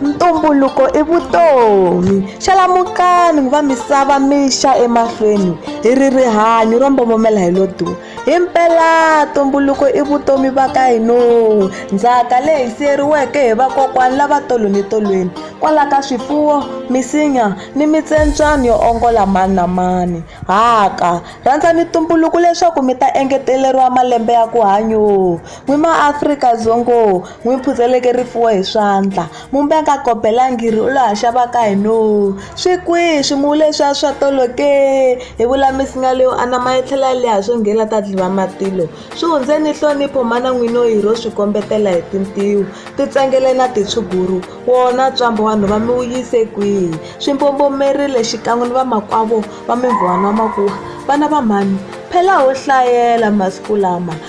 ntumbuluko i vutomi xalamukani ku va misava mixa emahlweni hi ri rihanyo ro mbomomela hi lo duwa himpela ntumbuluko i vutomi va ka hino ndzhaka leyi siyeriweke hi vakokwani lava tolo ni tolweni kwala ka swifuwo misinya ni mitsembyana yo ongola mani na mani haka rhandzani ntumbuluko leswaku mi ta engeteleriwa malembe ya ku hanyo N'wi maAfrika Dzongoo, n'wi phuzeleke rifuwo hi swandla, mumbe a nga kobelangi ri u lo ha xava ka hina oo! Swi kwihi swimuwu leswiya swa tolo ke? Hi vula misinya leyo anama yi tlhela yi leha swo nge la ta dlhiva matilo. Swi hundzeni nhlonipho mana n'wina oyi ro swi kombetela hi tintiho, tintsengele na titshuguru, wona ntswamba wa nhova mi wu yise kwihi? Swi mbombomerile xikan'we ni vamakwavo va mimvon'wa na makuwa, vana va mhani phela ho hlayela masiku lama.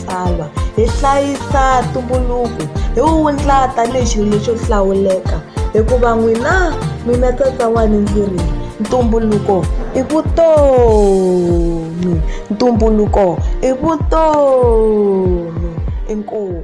matsalwa hi hlayisa ntumbuluko hi wu wundla tanihi xilo lexo hlawuleka hikuva n'wina mina tsatsawani ndzi ri ntumbuluko i vutomi ntumbuluko i vutomi inkomu